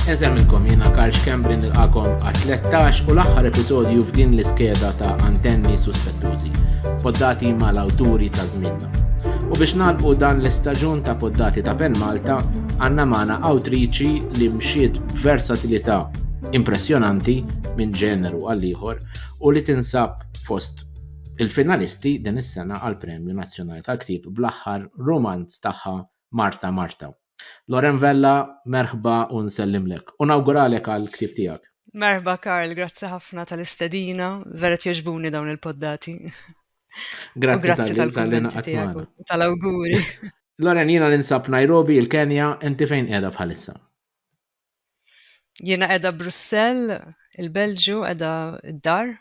Eżel minnkom jiena Karl Xkembri nilqakom għat-13 u l-aħħar episodju f'din l-iskeda ta' antenni suspettużi, poddati mal-awturi ta' żminna. U biex nalqu dan l-istaġun ta' poddati ta' Pen Malta, għandna magħna awtriċi li mxiet b'versatilità impressjonanti minn ġeneru għal ieħor u li tinsab fost Il-finalisti din is-sena għall-Premju Nazzjonali tal-Ktieb bl-aħħar rumanz tagħha Marta Marta. Loren Vella, merħba u nsellimlek. U nawguralek għall-ktieb tiegħek. Merħba Karl, grazzi ħafna tal-istedina, vera jogħġbuni dawn il-poddati. Grazzi tal-kummenti tiegħek tal-awguri. Loren, jiena ninsab Nairobi, il-Kenja, inti fejn qiegħda bħalissa? Jiena qiegħda Brussell, il-Belġju, qiegħda d-dar,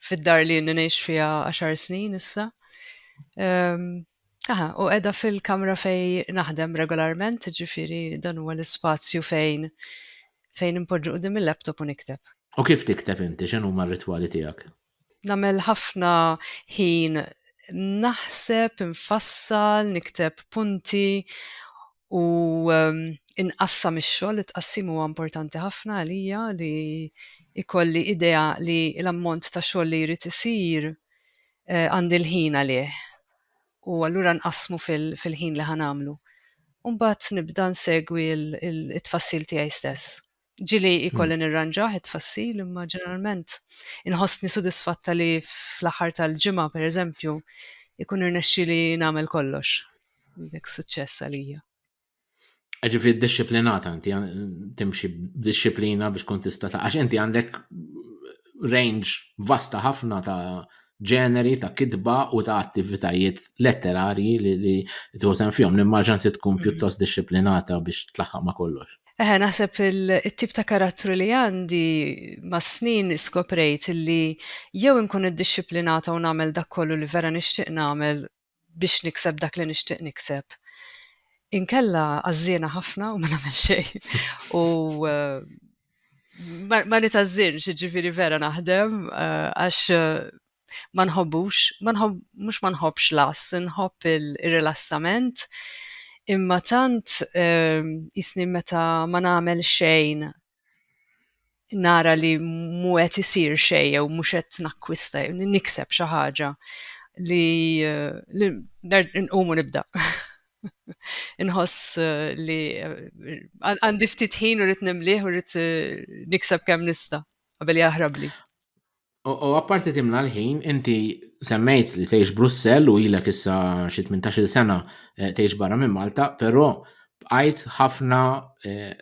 fid-dar li jenni ngħix fiha għaxar snin issa. Ehm, aha, u qiegħda fil-kamra fej naħdem regolarment, ġifiri dan huwa l-ispazju fejn fejn impoġġu qudiem il-laptop u nikteb. U kif tikteb inti, x'inhuma r-ritwali tiegħek? Nagħmel ħafna ħin naħseb, infassal, nikteb punti u inqassam ix-xogħol. It-tqassim huwa importanti ħafna għalija li jkolli idea li l-ammont ta' xogħol li jrid isir għandi l-ħin għalih u allura nqassmu fil-ħin li ħa nagħmlu. U mbagħad nibda nsegwi t-tfassil tiegħi stess. Ġili hmm. jkolli nirranġah it-tfassil imma ġeneralment inħossni sudisfatta li fl-aħħar tal-ġimgħa pereżempju ikun irnexxi li nagħmel kollox. Dik suċċess għalija. Ġifri disciplinata inti timxi b'disciplina biex tkun tista' ta' għax inti għandek range vasta ħafna ta' ġeneri ta' kitba u ta' attivitajiet letterarji li tużen fjom. Nimmaġan se tkun hmm. pjuttost disciplinata biex tlaħħaq ma' kollox. Eħe, naħseb it-tip ta' karattru li għandi, mas-snin skoprejt li jew inkun iddixxiplinata u nagħmel dak kollu li vera nixtieq nagħmel biex nikseb dak li nixtieq nikseb, inkella għażżiena ħafna u ma nagħmel xejn. U ma nitgħażżinx, jiġifieri vera naħdem għax ma nħobbux, ma nħobb, mhux ma nħobbx las, nħobb ir-rilassament, imma tant ehm, jisni meta ma nagħmel xejn nara li mu qed isir xejn jew mhux qed nakkwista jew nikseb xi ħaġa li, li nqumu nibda. Inħoss eh, li eh, għandi ftit ħin u rrid nimlih u rrid eh, nikseb kemm nista' qabel jaħrabli. U apparti timla l-ħin, inti semmejt li tgħix Brussell u ilek issa xi 18-il sena eh, tgħix barra minn Malta, però bqajt ħafna eh,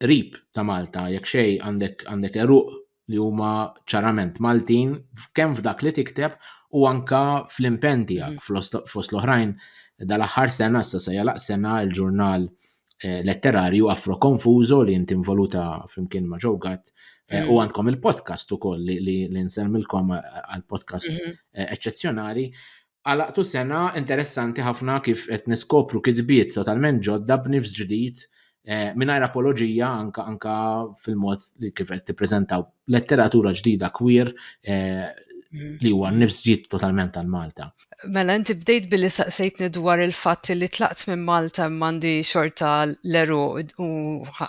rib ta' Malta, jekk xej għandek għandek eruq li huma ċarament Maltin, kemm f'dak li tikteb u anka fl-impenn tiegħek mm. fost l-oħrajn dal-aħħar sena issa se jalaq sena l-ġurnal eh, letterarju afro konfużo li inti involuta flimkien ma' ġogat eh, u mm. għandkom il-podcast ukoll li, li, li nsemmilkom eh, għal-podcast mm -hmm. eċċezzjonali. Għalaqtu sena interessanti ħafna kif qed niskopru kitbiet totalment ġodda b'nifs ġdid mingħajr apoloġija anka anka fil-mod li kif qed tippreżentaw letteratura ġdida queer eh, mm. li huwa nifs ġid totalment għal Malta. Mela, inti bdejt billi saqsejtni dwar il-fatt li tlaqt minn Malta mandi xorta l-eru u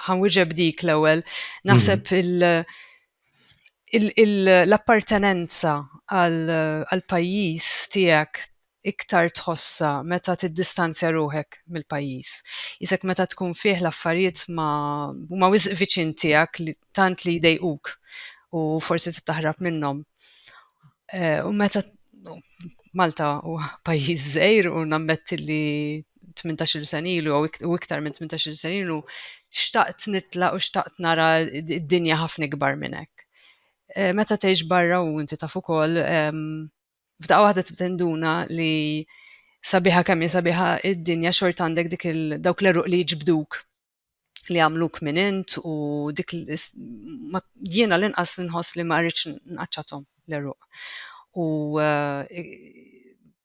ħanwiġeb dik l-ewel. Naħseb mhm. l-appartenenza għal-pajis tijak iktar tħossha meta tiddistanzja ruħek mill-pajjiż. Qisek meta tkun fih l-affarijiet ma huma wisq viċin tiegħek li tant li jdejquk u forsi trid taħrab minnhom. Eh, u meta Malta u pajjiż żgħir u nammetti li 18 sen ilu u iktar minn 18 sen ilu xtaqt nitla u xtaqt nara d-dinja ħafna ikbar minn hekk. Eh, meta tgħix barra u inti taf ukoll ehm, f'daqqa waħda tinduna li sabiħa kemm hi sabiħa id-dinja xort għandek dik il dawk l-eruq li jġbduk li għamluk minn int u dik jiena l-inqas nħoss li ma rridx nqaċċathom l-eruq. U eh,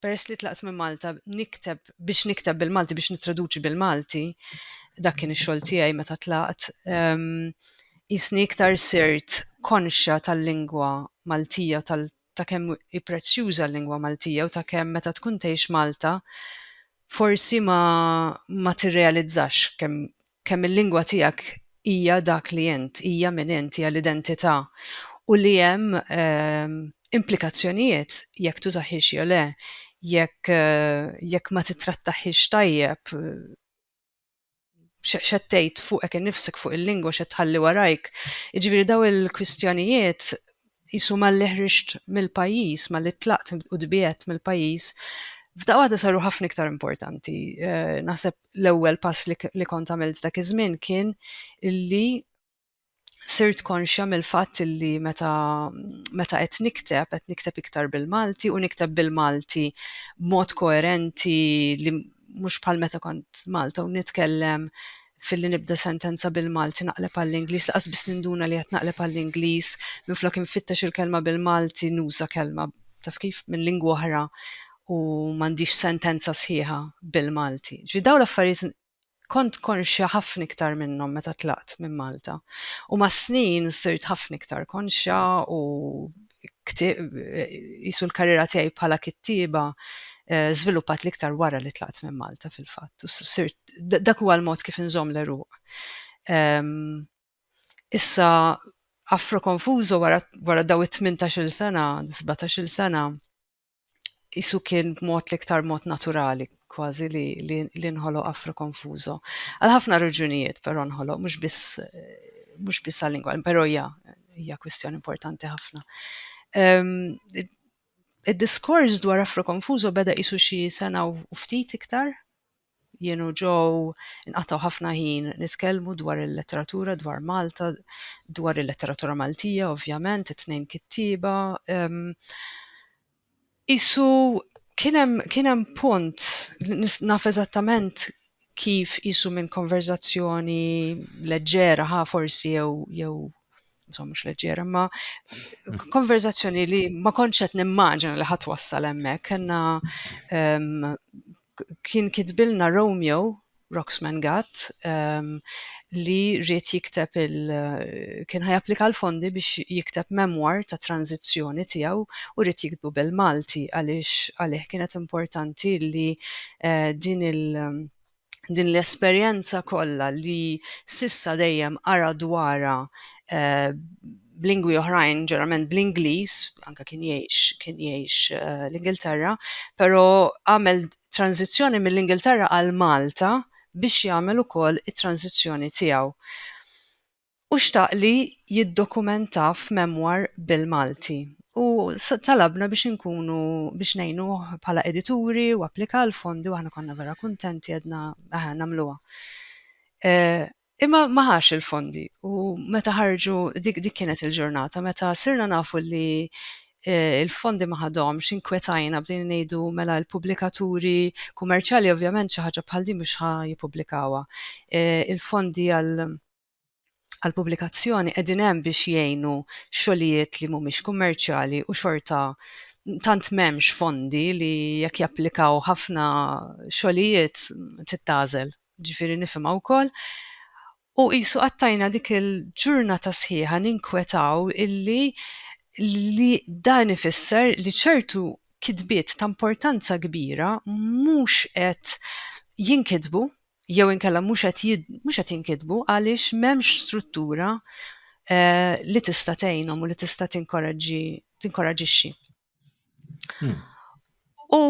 peress li tlaqt minn Malta nikteb biex nikteb bil-Malti biex nitraduċi bil-Malti dak kien ix-xogħol tiegħi meta tlaqt ehm, jisni iktar sirt konxja tal-lingwa Maltija tal ta' kemm hi prezzjuża l-lingwa Maltija u ta' kemm meta tkun tgħix Malta forsi ma ma tirrealizzax kemm kemm il-lingwa tiegħek hija dak li int, hija min int, hija l-identità u li hemm implikazzjonijiet jekk tużahiex jew le, jekk jekk ma tittrattahiex tajjeb. xed tgħid fuqek innifsek fuq il-lingwa xed tħalli warajk. Jiġifieri daw il-kwistjonijiet jisu malli ħriġt mill-pajjiż, malli tlaqt u dbiet mill-pajjiż, f'daqqa waħda saru ħafna iktar importanti. Eh, naħseb l-ewwel pass li kont għamilt dak iż-żmien kien illi sirt konxja mill-fatt li meta meta qed nikteb, qed nikteb iktar bil-Malti u nikteb bil-Malti b'mod koerenti li mhux bħal meta kont Malta u nitkellem filli nibda sentenza bil-Malti naqleb għall-Ingliż, laqas biss ninduna li qed naqleb għall-Ingliż, minflok infittex il-kelma bil-Malti nuża kelma taf kif minn lingwa oħra u m'għandix sentenza sħiħa bil-Malti. Ġi dawn l-affarijiet Kont konxja ħafna iktar minnhom meta tlaqt minn Malta u mas-snin sirt ħafna iktar konxja u qisu l-karriera tiegħi bħala kittieba żviluppat l-iktar wara li tlaqt minn Malta fil-fatt. Sirt dak huwa l-mod kif inżomm l-għeruq. Issa Afro Confuso wara wara daw it-tmintax-il sena, sbatax-il sena, jisu kien b'mod l-iktar mod naturali kważi li, li, li nħoloq Afro Konfużo. Għal ħafna raġunijiet però nħoloq mhux biss mhux biss għal lingwa, però hija hija kwistjoni importanti ħafna. Um, Id-diskors dwar Afro Konfużo beda isu xi sena u ftit iktar Jien u Jo nqatgħu ħafna ħin nitkellmu dwar il-letteratura, dwar Malta, dwar il-letteratura Maltija ovvjament, it-tnejn kittieba. Qisu kien hemm kien hemm punt, naf eżattament kif qisu minn konverżazzjoni leġġera ħa forsi jew jew insomma mhux leġġera, imma konverżazzjoni li ma kontx qed nimmaġina li ħadd wassal hemmhekk. Kellna Kien kitbilna Romeo, Rocksman Gatt, li ried jikteb il kien ħa japplika l-fondi biex jikteb memoir ta' tranżizzjoni tiegħu u ried jiktbu bil-Malti għaliex għalih kienet importanti li din il din l-esperjenza kollha li s'issa dejjem qara dwarha b'lingwi oħrajn, ġeneralment bl-Ingliż, anke kien jgħix kien jgħix eh, l-Ingilterra, però għamel tranzizzjoni mill-Ingilterra għal Malta biex jagħmel ukoll it-tranzizzjoni tiegħu. U xtaq li jiddokumenta f'memwar bil-Malti. U talabna biex inkunu biex nejnu bħala edituri u applika l-fondi u aħna konna vera kuntenti għedna aħna namluwa. Eh, Imma ma ħax il-fondi u meta ħarġu dik dik kienet il-ġurnata meta sirna nafu li eh, il-fondi ma ħadhomx inkwetajna bdejna ngħidu mela l-pubblikaturi kummerċjali ovvjament xi ħaġa bħal din mhux ħa jippubblikawha. Eh, il-fondi għal għal pubblikazzjoni qegħdin hemm biex jgħinu xogħlijiet li mhumiex kummerċjali u xorta tant m'hemmx fondi li jekk japplikaw ħafna xogħlijiet tittażel. Jiġifieri nifhimha wkoll. U qisu qattajna dik il-ġurnata sħiħa ninkwetaw illi li dan ifisser li ċertu kitbiet ta' importanza kbira mhux qed jinkitbu jew inkella mhux qed mhux qed jinkitbu għaliex m'hemmx struttura li tista' tgħinhom u li tista' tinkoraġġi tinkoraġixxi. Hmm. U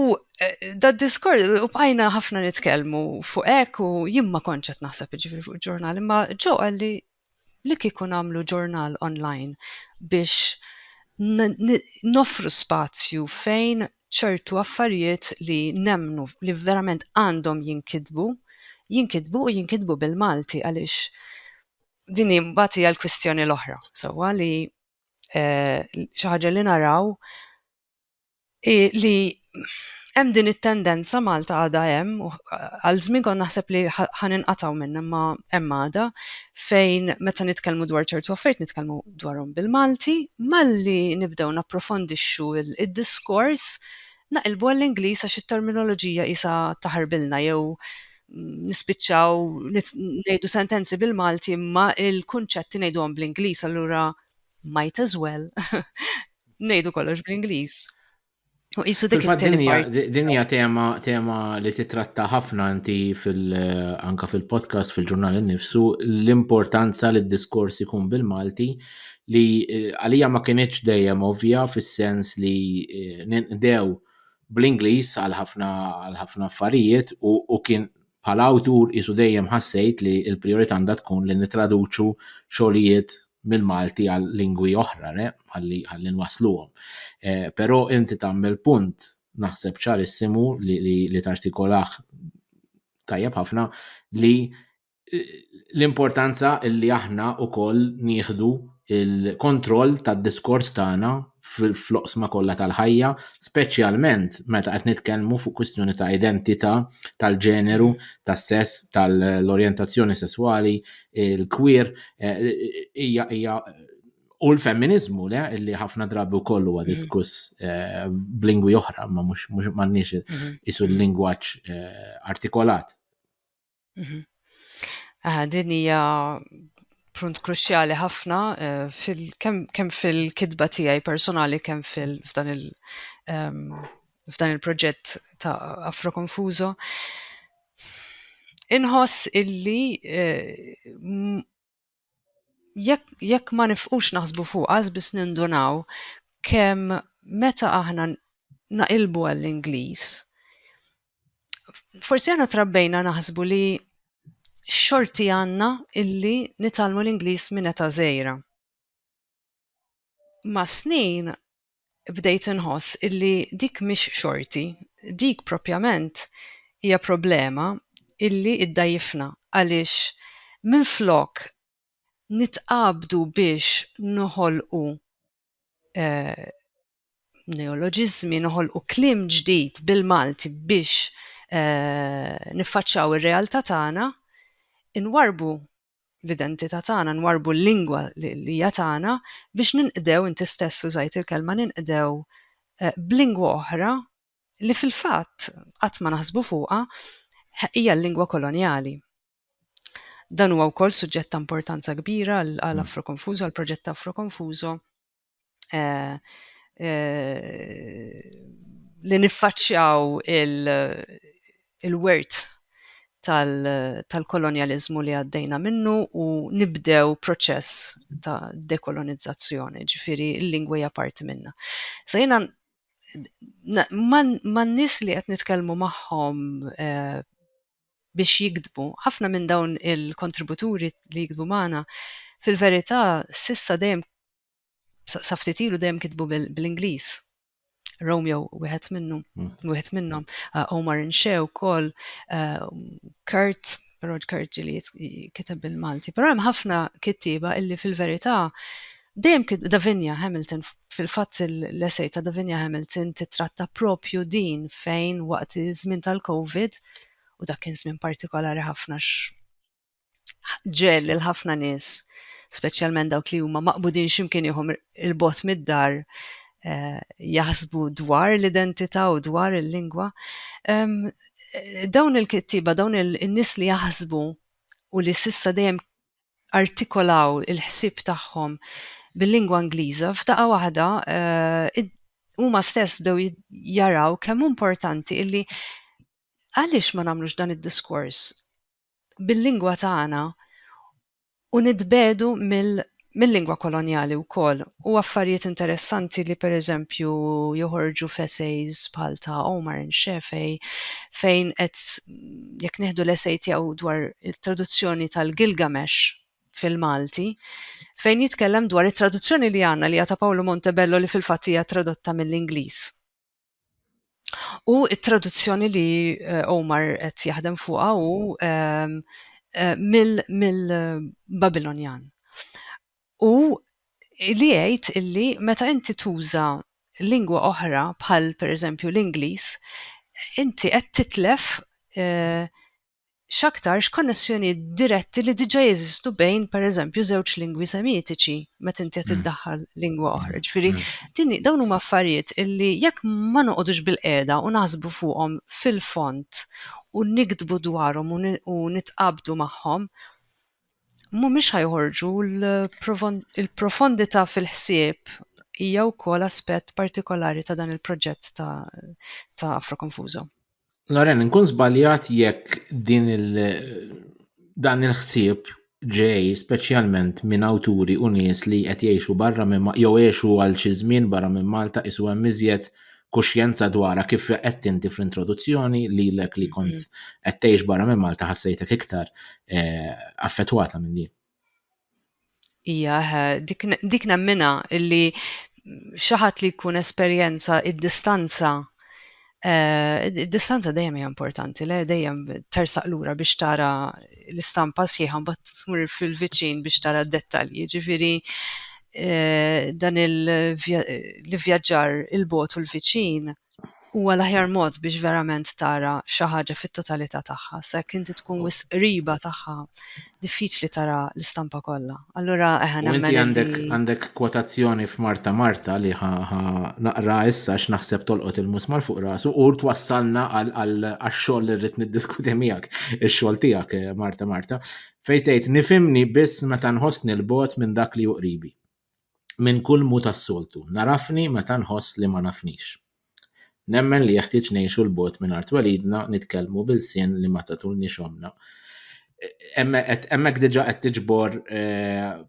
eh, da diskors, u bqajna ħafna nitkellmu fuq hekk u jien ma kontx qed naħseb ġifieri fuq ġurnal, imma ġo għalli li li kieku nagħmlu ġurnal online biex nofru spazju fejn ċertu affarijiet li nemnu li verament għandhom jinkidbu, jinkidbu u jinkidbu bil-Malti għaliex din imbagħad hija l-kwistjoni l-oħra. Sewwa li eh, xi ħaġa li naraw li hemm din it-tendenza Malta għadha hemm għal żmien kont naħseb li ħan inqataw minn imma hemm għada fejn meta nitkellmu dwar ċertu affarijiet nitkellmu dwarhom bil-Malti malli nibdew napprofondixxu id-diskors naqilbu għall-Ingliż għax it-terminoloġija isa taħarbilna jew nispiċċaw ngħidu sentenzi bil-Malti imma il-kunċetti ngħiduhom bl-Ingliż allura might as well ngħidu kollox bl-Ingliż. U qisu dik Dinja tema tema li titratta ħafna inti fil anka fil-podcast fil-ġurnal innifsu l-importanza li d-diskors ikun bil-Malti li eh, għalija ma kienieċ dejjem ovvja fis-sens li eh, ninqdew bl-Ingliż għal ħafna għal ħafna affarijiet u, u kien bħala awtur qisu dejjem ħassejt li l-prijorità għandha tkun li nittraduċu xogħlijiet mill-Malti għal lingwi oħra re, ħalli ħalli nwassluhom. Eh, però inti tagħmel punt naħseb ċarissimu li, li, li tartikolah tajjeb ħafna li l-importanza li aħna wkoll nieħdu il-kontroll tad-diskors tagħna fl-oqsma kollha tal-ħajja, speċjalment meta qed nitkellmu fuq kwistjoni ta' identità, tal-ġeneru, tas-sess, tal-orjentazzjoni sesswali, il-kwir, eh, hija hija u l-femminizmu le li ħafna drabi wkoll huwa diskuss eh, b'lingwi oħra, ma mhux m'għandniex mhm. isu l-lingwaġġ eh, artikolat. Mhm. Ah, din hija punt kruċjali ħafna eh, fil kemm fil-kitba tiegħi personali kemm fil f'dan il ehm, f'dan il-proġett ta' Afro Confuso. Inħoss illi eh, jekk jekk ma nifqux naħsbu fuq għaż biss nindunaw kemm meta aħna naqilbu għall-Ingliż forsi aħna trabbejna naħsbu li xorti għandna illi nitalmu l-Ingliż minn età żgħira. Ma' snin bdejt inħoss illi dik mhix xorti, dik propjament hija problema illi iddgħajjifna għaliex minflok nitqabdu biex noħolqu neoloġiżmi, noħolqu kliem ġdid bil-Malti biex niffaċċaw ir-realtà tagħna, inwarrbu l-identità tagħna, nwarbu l-lingwa li hija tagħna biex ninqdew inti stess użajt il-kelma ninqdew eh, b'lingwa oħra li fil-fatt qatt ma naħsbu fuqha hija l-lingwa kolonjali. Dan huwa wkoll suġġett ta' importanza kbira għal mm. Afro Confuso, għal proġett ta' Afro Confuso, eh, eh, li niffaċċjaw il-wert tal-kolonializmu li għaddejna minnu u nibdew proċess ta' dekolonizzazzjoni, ġifiri l-lingwa hija parti minna. Sa jena man nis li qed nitkellmu magħhom eh, biex jiktbu. Ħafna minn dawn il-kontributuri li jiktbu magħna fil-verità s'issa dejjem sa ftit ilu dejjem kitbu bl-Ingliż. Romeo wieħed minnhom, hmm. wieħed minnhom, uh, Omar Inxew ukoll, uh, Kurt, Rod Kurt li kiteb bil-Malti. Però hemm ħafna kittieba illi fil-verità Dejjem kien Davinia Hamilton, fil-fatt l-essej ta' Davinia Hamilton titratta proprju din fejn waqt iż-żmien tal-Covid, u dak kien żmien partikolari ħafna għax ġiegħel lil ħafna nies, speċjalment dawk li huma maqbudin xi mkien ieħor 'il bogħod mid-dar, jaħsbu dwar l-identità u dwar il-lingwa. Dawn il-kittieba, dawn in-nies li jaħsbu u li s'issa dejjem artikolaw il-ħsieb tagħhom bil-lingwa Ingliża, f'daqqa waħda huma stess bdew jaraw kemm importanti illi għaliex ma nagħmlux dan id-diskors bil-lingwa tagħna u nitbedu mill mill-lingwa kolonjali wkoll u affarijiet interessanti li pereżempju joħorġu f'essays bħal ta' Omar and Shafei fejn qed jekk nieħdu l-esej tiegħu dwar it-traduzzjoni tal-Gilgamesh fil-Malti, fejn jitkellem dwar it-traduzzjoni li għandna li ta' Paolo Montebello li fil-fatt hija tradotta mill-Ingliż. U it-traduzzjoni li eh, Omar qed jaħdem fuqha u ehm, eh, mill-Babilonjan. Hu li jgħid illi meta inti tuża lingwa oħra bħal pereżempju l-Ingliż, inti qed titlef x'aktarx konnessjonijiet diretti li diġà jeżistu bejn pereżempju żewġ lingwi semitiċi meta inti qed iddaħħal lingwa oħra. Ġifieri din dawn huma affarijiet illi jekk ma noqogħdux bilqiegħda u naħsbu fuqhom fil-fond u niktbu dwarhom u nitqabdu magħhom, mhumiex ħa joħorġu l-profondità fil-ħsieb hija wkoll aspett partikolari ta' dan il-proġett ta' ta' Afro Confuso. Loren, nkun żbaljat jekk din il dan il-ħsieb ġej speċjalment minn awturi u nies li qed jgħixu barra minn jew għexu għal xi żmien barra minn Malta qisu hemm iżjed kuxjenza dwarha kif qed inti fl-introduzzjoni lilek li kont mm-hmm. qed tgħix barra minn Malta ħassejtek iktar eh, affettwata minn din. Ija, dik nemmina illi xaħat li jkun esperjenza id-distanza eh, id-distanza dejjem hija importanti, le dejjem tersaq lura biex tara l-istampa sħiħa mbagħad tmur fil-viċin biex tara d-dettalji. Ġifieri eh, dan il-vjaġġar il-bot u l-viċin huwa l-aħjar mod biex verament tara xi ħaġa fit-totalità tagħha, sa jekk inti tkun wisq qriba tagħha diffiċli tara l-istampa kollha. Allura eħa nemmen. Inti għandek għandek kwotazzjoni f'Marta Marta li ħa naqra issa x'naħseb tolqot il-musmar fuq rasu u twassalna għal xogħol li rrid niddiskuti miegħek ix-xogħol tiegħek eh, Marta Marta fejn tgħid nifimni biss meta nħossni l-bot minn dak li juqribi. Minn kull mu tas-soltu, narafni meta nħoss li ma nafnix. Nemmen li jeħtieġ ngħixu 'l bogħod minn art twelidna nitkellmu b'ilsien li ma tatulniex ommna. Hemmhekk diġà qed tiġbor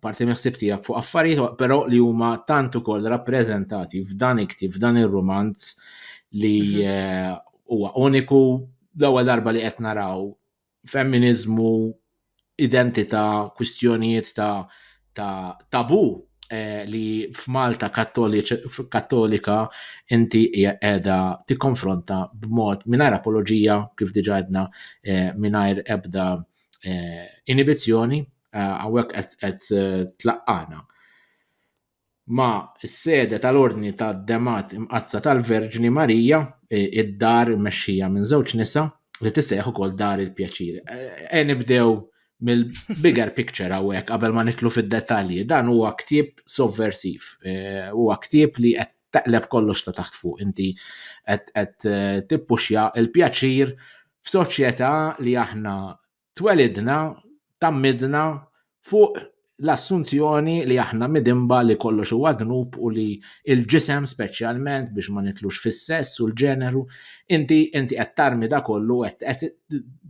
parti mill-ħsieb tiegħek fuq affarijiet però li huma tant ukoll rappreżentati f'dan il-ktieb, f'dan ir-rumanz li mhm. eh, huwa uniku l-ewwel darba li qed naraw femminiżmu, identità, kwistjonijiet ta' ta' tabu eh, li f'Malta kattolika inti hija qiegħda tikkonfronta b'mod mingħajr apoloġija kif diġà għedna eh, mingħajr ebda eh, inibizzjoni eh, hawnhekk qed tlaqqana. ma' s-sede tal-Ordni ta' Demgħat Imqaddsa tal-Verġni Marija, id-dar immexxija minn żewġ nisa li tissejjaħ ukoll Dar il-Pjaċir. E nibdew mill-bigger picture hawnhekk qabel ma nitlu fid-dettalji. Dan huwa ktieb sovversiv. Huwa ktieb li qed taqleb kollox ta' taħt fuq. Inti qed tippuxja l-pjaċir f'soċjetà li aħna Twelidna, tgħammidna fuq l-assunzjoni li aħna midinba li kollox huwa dnub u li l-ġisem speċjalment biex ma nitlux fis-sess u l-ġeneru, inti inti qed tarmi da kollu u qed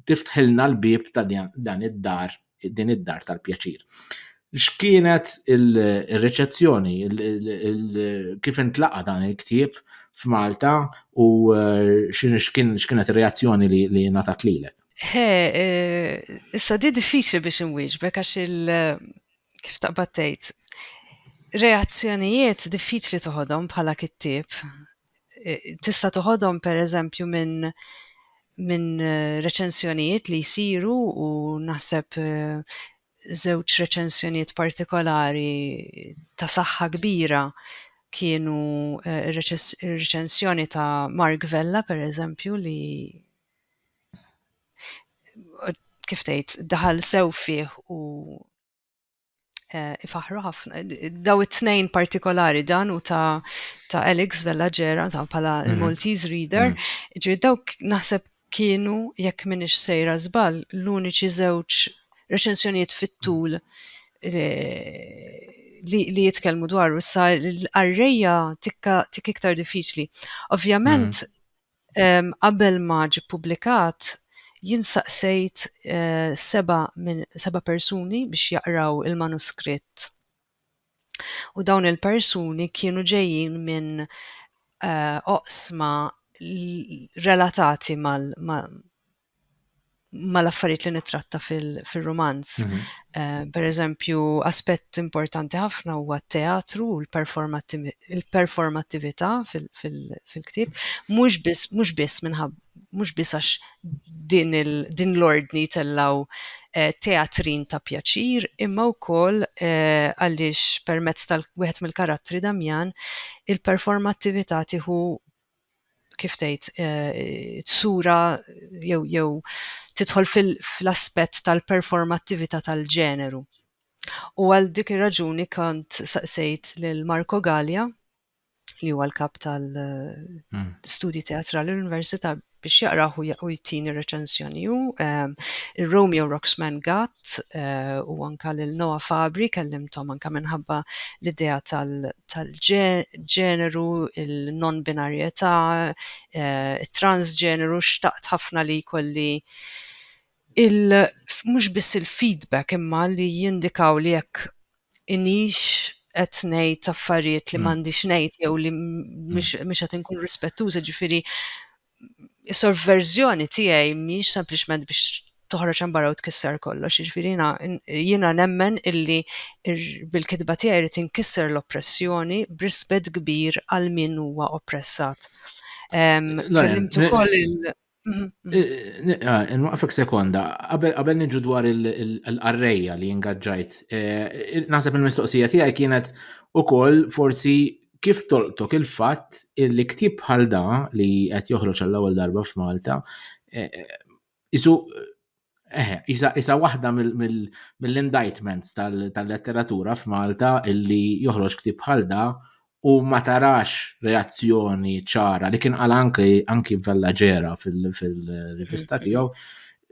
tiftħilna l-bieb ta' dan id-dar din id-dar tal-pjaċir. X'kienet ir-riċezzjoni, kif intlaqa' dan il-ktieb f'Malta u x'kienet ir-reazzjoni li ngħatat lilek? He, issa di diffiċli biex inwieġbek għax il kif taqbad tgħid reazzjonijiet diffiċli toħodhom bħala kittieb. Tista' toħodhom pereżempju minn minn reċensjonijiet li jsiru u naħseb żewġ reċensjonijiet partikolari ta' saħħa kbira kienu reċensjoni ta' Mark Vella pereżempju li kif tgħid, daħal sew fih u eh, ifaħru ħafna. Daw it-tnejn partikolari dan u ta', ta Alex Vella Ġera, ta' pala mhm. il-Maltese Reader, mhm. ġiri dawk naħseb kienu, jekk minix sejra zbal, l-uniċi żewġ reċensjonijiet fit-tul eh, li, li jitkellmu dwaru sa l-arreja tikka tik iktar diffiċli. Ovvjament, mm. Qabel ma ġie ppubblikat, jien staqsejt seba' minn seba' persuni biex jaqraw il-manuskritt. U dawn il-persuni kienu ġejjin minn oqsma relatati mal-affarijiet li nitratta fil-romanz. Mhm. Eh, per eżempju, aspett importanti ħafna huwa t-teatru u l-performattività fil-ktib, mhux biss mhux biss minħab mhux biss għax din l-ordni tellaw eh, teatrin ta' pjaċir, imma wkoll eh, għaliex permezz tal-wieħed mill-karattri Damjan il-performattività tieħu kif tgħid tsura jew jew tidħol fl-aspett tal-performattività tal-ġeneru. U għal dik ir-raġuni kont saqsejt lil Marco Gallia li huwa l-kap tal-studji hmm. teatrali l-Università biex jaqraħ u jtini reċenzjoni u ehm, il-Romeo Roxman Gatt eh, u anka l-Noa Fabri kellimtom anka minħabba l-idea tal-ġen ġeneru, il-non-binarjetà, it-transġeneru, xtaqt ħafna li jkolli il mhux biss il-feedback imma li jindikaw li jekk inix qed ngħid affarijiet li m'għandix ngħid jew li mhux qed inkun rispettuża, ġifieri is-sorverżjoni tiegħi mhijiex sempliċement biex toħroġ hemm barra u tkisser kollox, jiġifieri jiena jiena nemmen illi bil-kitba tiegħi rrid inkisser l-oppressjoni b'rispett kbir għal min huwa oppressat. Kellimt ukoll il- mhm, mhm. Ah, Nwaqfek sekonda, qabel qabel niġu dwar il-qarrejja li ingaġġajt, eh, naħseb il-mistoqsija tiegħi kienet ukoll forsi kif tolqtok il-fatt li ktieb bħal da li qed joħroġ għall-ewwel darba f'Malta isu isa isa waħda mill-indictments tal-letteratura f'Malta illi joħroġ ktieb bħal da u ma tarax reazzjoni ċara li kien qal anki anki Vella Ġera fil-rivista tiegħu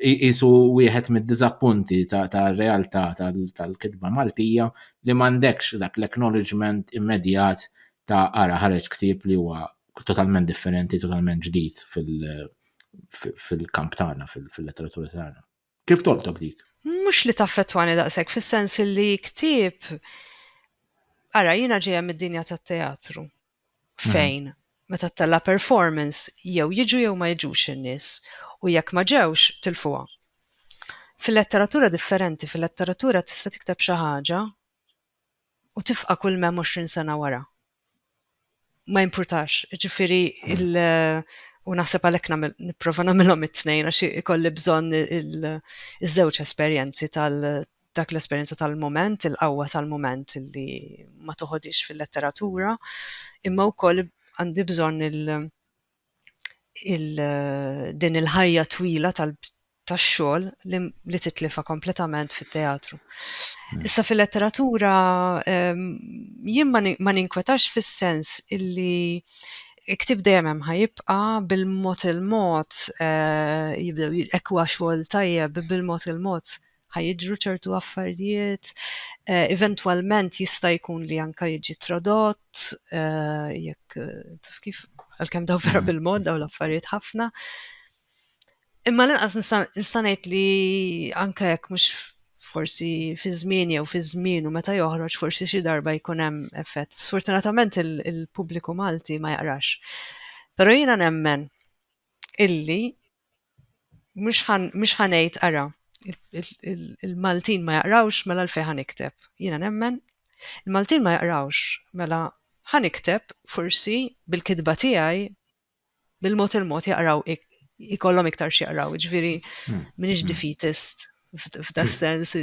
Isu wieħed mid-diżappunti tar-realtà tal-kitba Maltija li m'għandekx dak l-acknowledgement immedjat ta' ara ħareġ ktieb li huwa totalment differenti, totalment ġdid fil-kamp tagħna, fil-letteratura tagħna. Kif toltok dik? Mhux li taffettwani daqshekk fis-sens li ktieb ara jiena ġejja mid-dinja tat-teatru. fejn meta ttella' performance jew jiġu jew ma jiġux in-nies u jekk ma ġewx tilfuha. Fil-letteratura differenti, fil-letteratura tista' tikteb xi ħaġa u tifqa' kull m'hemm għoxrin sena wara. Ma jimpurtax, jiġifieri il- u naħseb għalhekk nagħmel nipprova nagħmilhom it-tnejn għax ikolli bżonn iż-żewġ esperjenzi tal dak l-esperjenza tal-mument, il-qawwa tal-mument li ma toħodix fil-letteratura, imma wkoll għandi bżonn il- din il-ħajja twila tax-xogħol li titlifa kompletament fit-teatru. Hmm. Issa fil-letteratura ehm, jien ma ninkwetax fis-sens illi iktib dejjem hemm ħajibqa bil-mod il-mod eh, jibdew ekwa xogħol tajjeb bil-mod il-mod ħa jiġru ċertu affarijiet, eventwalment jista' jkun li anke jiġi tradott jekk taf kif għalkemm daw vera mm. bil-mod daw l-affarijiet ħafna. Imma l-inqas nista' ngħid li anke jekk mhux forsi fi żmien jew fi żmien u meta joħroġ forsi xi darba jkun hemm effett. Sfortunatament il-pubbliku Malti ma jaqrax. Però jiena nemmen illi mhux ħa ngħid ara il-Maltin ma jaqrawx mela l-fej ħa nikteb. Jiena nemmen il-Maltin ma jaqrawx mela ħa nikteb forsi bil-kitba tiegħi bil-mod il-mod jaqraw ikollhom iktar x'jaqraw, ġifieri hmm. m'iniex hmm. defeatist f'da sens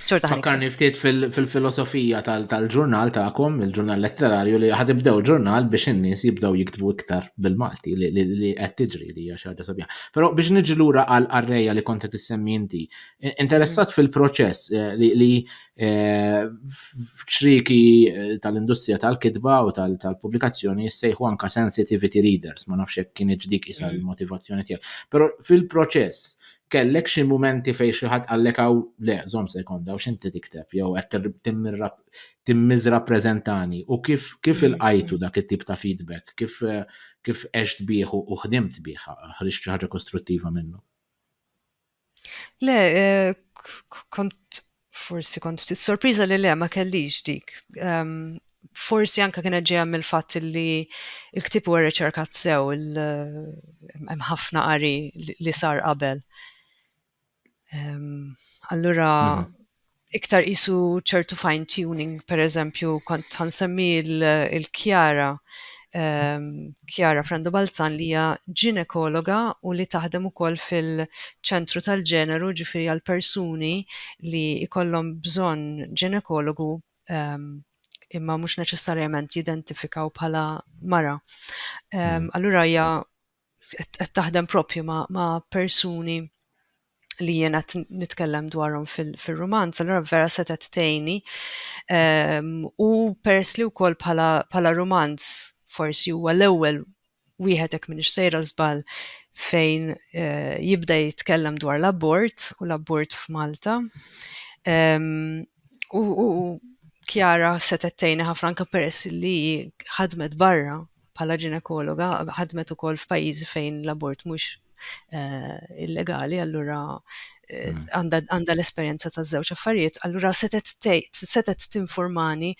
Xorta ħanika. Fakkarni ftit fil-filosofija tal-ġurnal tagħkom, il-ġurnal letterarju li ħadibdew ġurnal biex in-nies jibdew jiktbu iktar bil-Malti li qed tiġri li hija xi ħaġa sabiħa. Però biex niġi lura għal arreja li kont qed issemmi inti, i- interessat fil-proċess eh, li- li eh, f'ċriki eh, tal-industrija tal-kitba u tal- tal-pubblikazzjoni jissejħu anka sensitivity readers, ma nafx hekk kien dik isa l-motivazzjoni tiegħek. Però fil-proċess Kellek xi mumenti fejn xi ħadd qallek hawn le, żomm sekonda hawn x'inti tikteb jew qed timmiżrappreżentani u kif kif ilqajtu dak it-tip ta' feedback, kif kif għext bih u ħdimt bih, ħriġt xi ħaġa kostruttiva minnu? Le, kont Forsi kont ftit sorpriża li le ma kellix dik. Um, forsi anka kienet ġejja mill-fatt li l-ktib huwa riċerkat sew hemm ħafna qari li sar qabel. Um, allura mhm. iktar isu ċertu fine tuning, per eżempju, kont ħansemmi il-kjara Chiara Frendo Balzan li hija ġinekologa u li taħdem ukoll fil-ċentru tal-ġeneru ġifieri għal persuni li jkollhom bżonn ġinekologu ehm, imma mhux neċessarjament jidentifikaw bħala mara. Ehm, mm. Allura hija qed taħdem propju ma', ma persuni li jien qed nitkellem dwarhom fil-rumanz, fil allura vera setgħet tgħinni. Um, u peress li wkoll bħala, bħala rumanz forsi huwa l-ewwel wieħed hekk minix sejra żball fejn uh, jibda jitkellem dwar l-abort u l-abort f'Malta. Um, u, u Kjara setgħet tgħinni ħafna anke peress li ħadmet barra bħala ġinekologa ħadmet ukoll f'pajjiżi fejn l-abort mhux eh, illegali, allura eh, hmm. għandha l-esperjenza ta' żewġ affarijiet, allura setet tinformani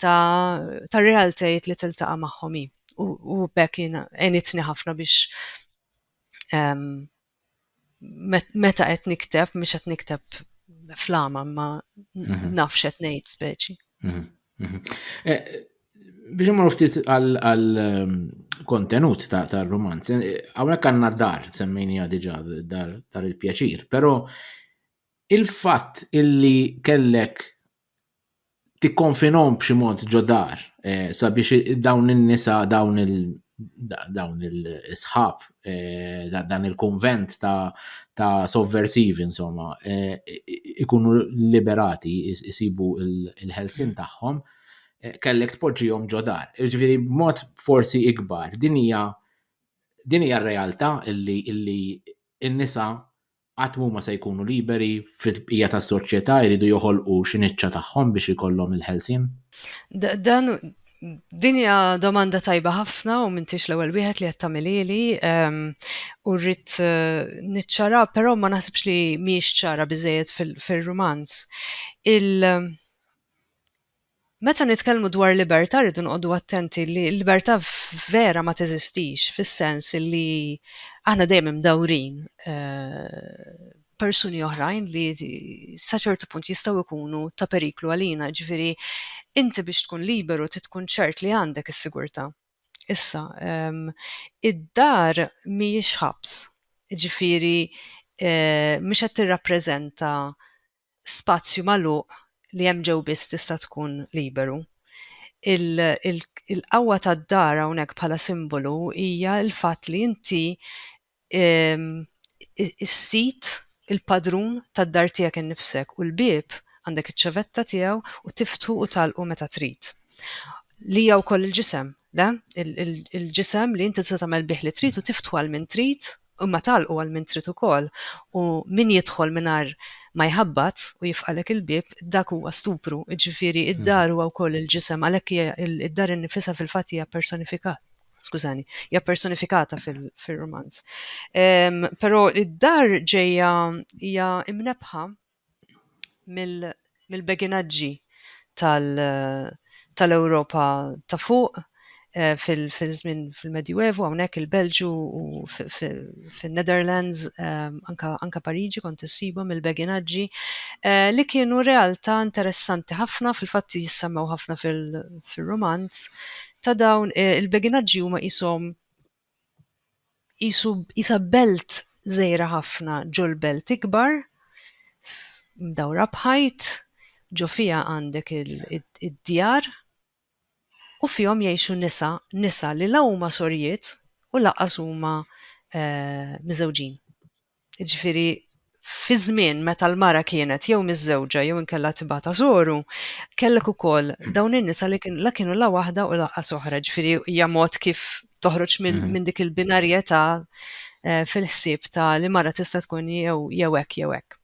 ta' realtajiet li tiltaqa' magħhom u bekk enitni ħafna biex ehm, meta qed nikteb, mhux qed nikteb flama, ma mhm. nafx qed ngħid speċi. Mhm, mhm. Eh, biex imur ftit għal ehm, kontenut ta' romanz, eh, hawnhekk għandna dar semmejnija diġà dar il-pjaċir, però il-fatt illi kellek tikkonfinhom b'xi mod ġo dar eh, sabiex dawn in-nisa dawn il dawn il-sħab eh, dan il-konvent ta', ta sovversivi insomma eh, ikunu liberati isibu il-ħelsin tagħhom eh, kellek tpoġġihom ġo dar. Ġifieri b'mod forsi ikbar din hija din hija r-realtà illi illi n-nisa qatt m'huma se jkunu liberi fil-bqija tas-soċjetà jridu joħolqu xi niċċa tagħhom biex ikollhom il-ħelsien? Dan din hija domanda tajba ħafna u m'intix l-ewwel wieħed li qed tagħmilili ehm, u rrid eh, niċċara, però ma naħsibx li mhijiex ċara biżejjed fir-rumanz. Il- Meta nitkellmu dwar libertà rridu noqogħdu attenti li l-libertà vera ma teżistix fis-sens li aħna dejjem imdawrin b'persuni oħrajn li sa ċertu punt jistgħu jkunu ta' periklu għalina, jiġifieri inti biex tkun liberu trid tkun ċert li għandek is-sigurtà. Issa, id-dar mhijiex ħabs, jiġifieri mhix qed tirrappreżenta spazju magħluq li hemm ġew biss tista' tkun liberu. Il, il, il-qawwa tad-dar hawnhekk bħala simbolu hija l-fatt li inti ehm, is-sid il-padrun tad-dar tiegħek innifsek u l-bieb għandek iċ-ċevetta tiegħu u tiftħu u tagħlqu meta trid. Li hija wkoll il-ġisem. Da, il-ġisem li inti se tagħmel bih li trid u tiftu għal min trid, imma tagħlqu għal min trid ukoll, u min jidħol mingħajr ma jħabbat u jifqalek il-bieb, dak huwa stupru, jiġifieri id-dar huwa wkoll il-ġisem, għalhekk hija id-dar innifisha fil-fatt hija personifikat. Skużani, hija personifikata fil-romanz. Però id-dar ġejja hija imnebħa mill-beginaġġi tal-Ewropa ta' fuq fil-żmien fil-Medjuevu hawnhekk il-Belġu u fin-Netherlands anke Pariġi kont issibhom mill-beginaġġi li kienu realtà interessanti ħafna fil-fatt jissemmgħu ħafna fir-rumanz ta' dawn il-beginaġġi huma qishom qisu qisha belt żgħira ħafna ġol-belt ikbar, mdawra b'ħajt, ġo fiha għandek id-djar u fihom jgħixu nisa, nisa li la huma sorjiet u lanqas huma miżewġin. Jiġifieri fi żmien meta l-mara kienet jew miżżewġa jew inkella tibgħatha żoru, kellek ukoll dawn in-nisa li kien la kienu la waħda u laqqas oħra, ġifieri hija mod kif toħroġ minn mhm. min dik il-binarjetà eh, fil-ħsieb ta' li mara tista' tkun jew jew hekk jew hekk.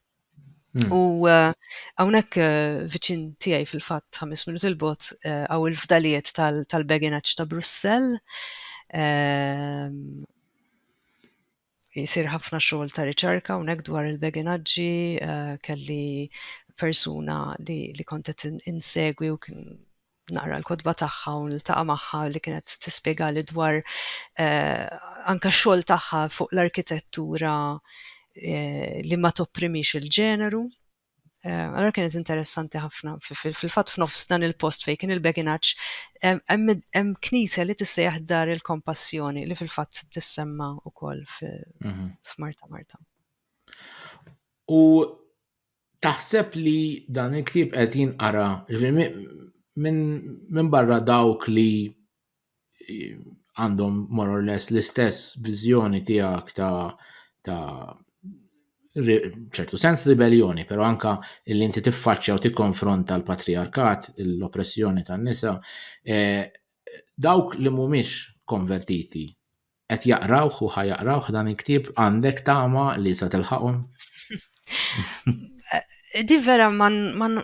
Mhm. U eh, hawnhekk eh, viċin tiegħi fil-fatt ħames minut il-bot għaw il-fdalijiet tal-beginaċ ta' Brussell. Ehm, jsir ħafna xogħol ta' riċerka hawnhekk dwar il-beginaġġi, eh, kelli persuna li, li kontet insegwi u kien naqra l-kodba tagħha u niltaqa' magħha li kienet tispjega li dwar eh, anka xogħol tagħha fuq l-arkitettura eh, li ma topprimix il-ġeneru. Eh, allora kienet interessanti ħafna. Fil-fatt f'nofs dan il-post fejn kien il-beginaċ, hemm knisja li tissejjaħ dar il-kompassjoni li fil-fatt tissemma wkoll mhm. f'Marta Marta. U taħseb li dan il-ktieb qed jinqara minn barra dawk li għandhom more or less l-istess viżjoni tiegħek ta' ta' ċertu sens ribellioni, pero anka li inti tiffaċċja u tikkonfronta l-patriarkat, l-oppressjoni tan-nisa, e, dawk li mhumiex konvertiti qed jaqrawh u ħajaqrawh dan il-ktieb għandek tama li sa tilħaqhom? Eh, di vera man, man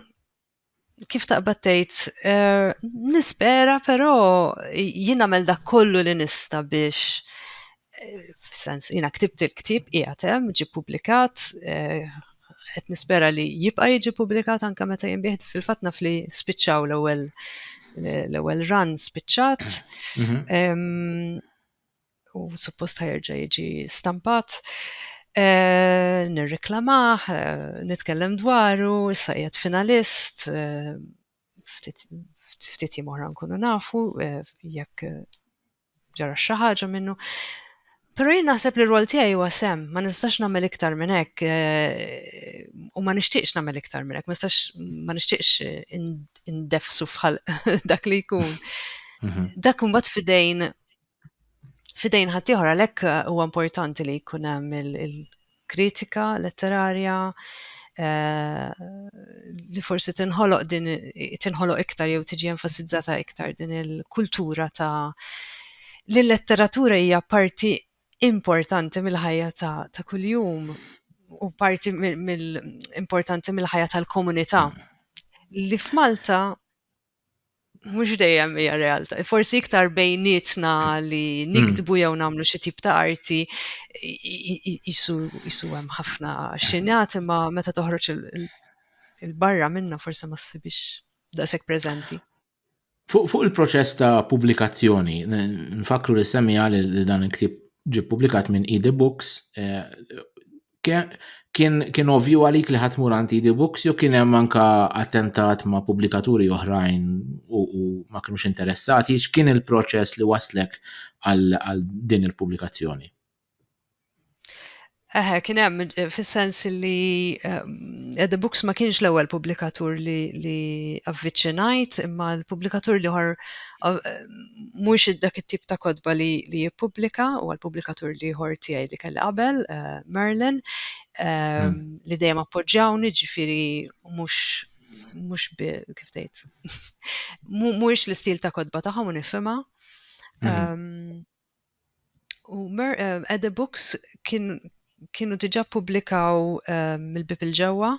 kif taqbad tgħid, eh, nispera però jien nagħmel dak kollu li nista' biex eh, f'sens jiena ktibt il-ktieb qiegħed hemm ġie publikat eh, qed nispera li jibqa' jiġi publikat anke meta jinbih fil-fatt naf li spiċċaw l-ewwel l-ewwel run spiċċat. Mhm. u suppost ħajerġa' jiġi stampat. Eh, nirreklamah, eh, nitkellem dwaru, issa qiegħed finalist, eh, ftit jiem oħra nkunu nafu jekk ġara xi ħaġa minnu. Però jien naħseb li r-rwol tiegħi huwa sem, ma nistax nagħmel iktar minn hekk u ma nixtieqx nagħmel iktar minn hekk, ma nistax ma nixtieqx indefsu fħal dak li jkun. Mhm. Dak imbagħad fidejn fidejn ħaddieħor għalhekk eh, huwa importanti li jkun hemm il-kritika letterarja eh, li forsi tinħoloq din tinħoloq iktar jew tiġi enfasizzata iktar din il-kultura ta' li l-letteratura hija parti importanti mill-ħajja ta', ta kuljum u parti mill-importanti mill-ħajja tal-komunità. Li f'Malta mhux dejjem hija realtà. Forsi iktar bejnietna li hmm. niktbu jew nagħmlu xi tip ta' arti jisu hemm ħafna xinjat imma meta toħroġ il-barra minna forsi ma ssibix daqshekk preżenti. Fuq il-proċess ta' pubblikazzjoni, nfakru li semmi għal li dan il-ktib ġi publikat minn Ede Books, eh, kien kien ovvju għalik li ħadd mur għandi di books jew kien hemm anka attentat ma' pubblikaturi oħrajn u ma kienux interessati, x'kien il-proċess li waslek għal din il-pubblikazzjoni? Eħe, kien hemm fis-sens li ehm, The Books ma kienx l-ewwel pubblikatur li avviċinajt, imma l-pubblikatur li ħor eh, mhux dak it-tip ta' kotba li li jippubblika u l-pubblikatur li ieħor tiegħi li kelli qabel, eh, Merlin, eh, hmm. li dejjem appoġġjawni ġifieri mhux mhux kif tgħid. Mhuwiex l-istil ta' kotba tagħhom u nifhimha. Hmm. Ehm, u eh, the Books kienu diġà pubblikaw mill-bib il-ġewwa.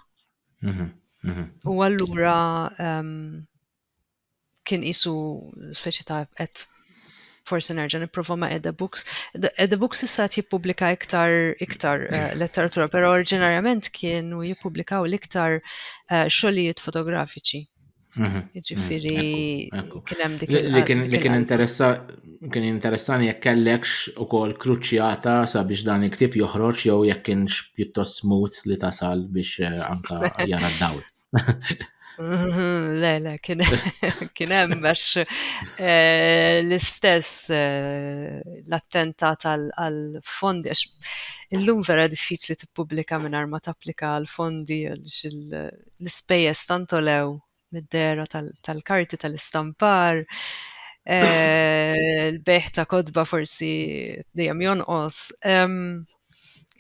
Mhm, mhm. U allura ehm, kien qisu speċi ta' qed forsi nerġa' nipprova ma' Ede Books. Ede Books issa qed jippubblika iktar iktar eh, letteratura, però oriġinarjament kienu jippubblikaw l-iktar eh, xogħlijiet fotografiċi. Mhm. Ġifiri, mhm. kien hemm dik li kien interessa kien interessani jekk kellekx ukoll kruċjata sabiex dan il-ktib joħroġ jew jekk kienx pjuttost smut li tasal biex eh, anka jara d-dawl. Mhm, le, le, kien hemm għax eh, l-istess eh, l-attentat għal-fondi, għax illum vera diffiċli tippubblika minn ma tapplika għal-fondi għax l-ispejjeż tantolew mid-dera tal-karti tal-istampar, eh, l-beħ ta' kodba forsi dejjem jonqos.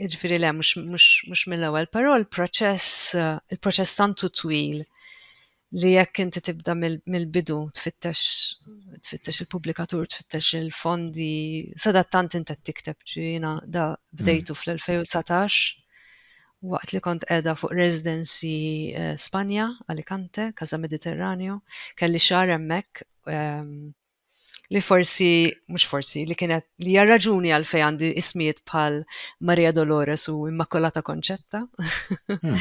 Jiġifieri le mhux mill-ewwel, però l-proċess il-proċess tantu twil li jekk inti tibda mill-bidu tfittex tfittex il-pubblikatur, tfittex il-fondi, sadattant inti tikteb ġina da bdejtu mm. fl-2019 waqt li kont edha fuq residency eh, Spanja, Alicante, Casa Mediterraneo, kelli xar emmek ehm, li forsi, mhux forsi, li kienet li hija raġuni għal fej għandi ismijiet bħal Maria Dolores u Immakolata Konċetta. Hmm,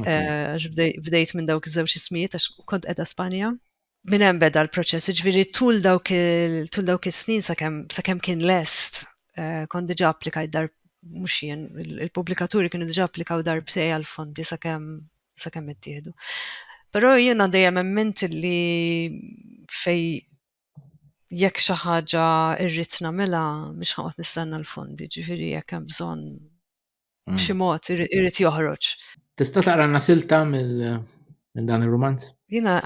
eh, bdejt minn dawk iż-żewġ ismijiet għax kont qiegħda Spanja. Minn hemm beda l-proċess, ġifieri tul dawk tul dawk is-snin sakemm sakemm kien lest eh, kont diġà applikajt dar mhux jien, il-pubblikaturi kienu diġà applikaw darbtej għal fondi sakemm sa kemm ittieħdu. Però jiena dejjem emmint li fej jekk xi ħaġa rrid nagħmilha mhix ħadd nistenna l-fondi, ġifieri jekk hemm bżonn mm. b'xi mod irid joħroġ. Tista' taqranna silta mill dan ir-rumanz? Jiena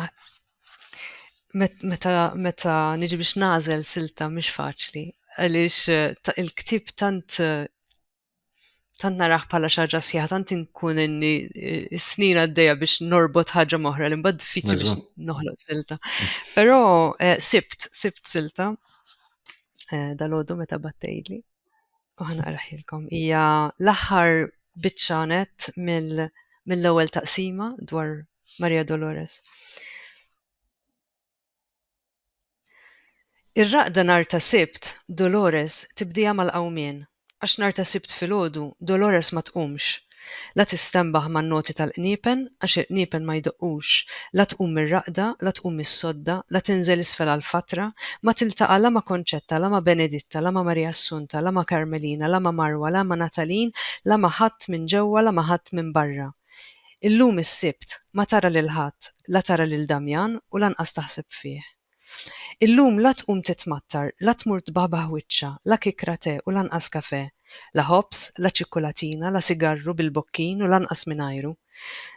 meta meta niġi biex nażel silta mhix faċli għaliex eh, il-ktib tant eh, tant naraħ bħala xi ħaġa sħiħa, tant inkun inni eh, snin għaddejja biex norbot ħaġa moħra li mbagħad diffiċli biex noħloq silta. Però eh, sibt, sibt silta eh, dal-għodu meta battejli. Uħna raħilkom. Ija l-aħħar bitċanet mill-ewwel taqsima dwar Maria Dolores. Ir-raqda nhar ta' Sibt, Dolores tibdieha mal-qawmien, għax nhar ta' Sibt filgħodu Dolores ma tqumx, la tistenbaħ man-noti tal-qniepen għax il-qniepen ma jdoqqux, la tqum mir-raqda, la tqum mis-sodda, la tinżel isfel għall-fatra, ma tiltaqa' la ma' Konċetta, la ma' Beneditta, la ma' Marija Assunta, la ma' Karmelina, la ma' Marwa, la ma' Natalin, la ma' ħadd minn ġewwa, la ma' ħadd minn barra. Illum is-Sibt ma tara lil ħadd, la tara lil Damjan u lanqas taħseb fih. Illum la tqum titmattar, la tmur tbahbah wiċċha, la kikra te u lanqas kafè, la ħobż, la ċikkulatina, la sigarru bil-bokkin u lanqas mingħajru.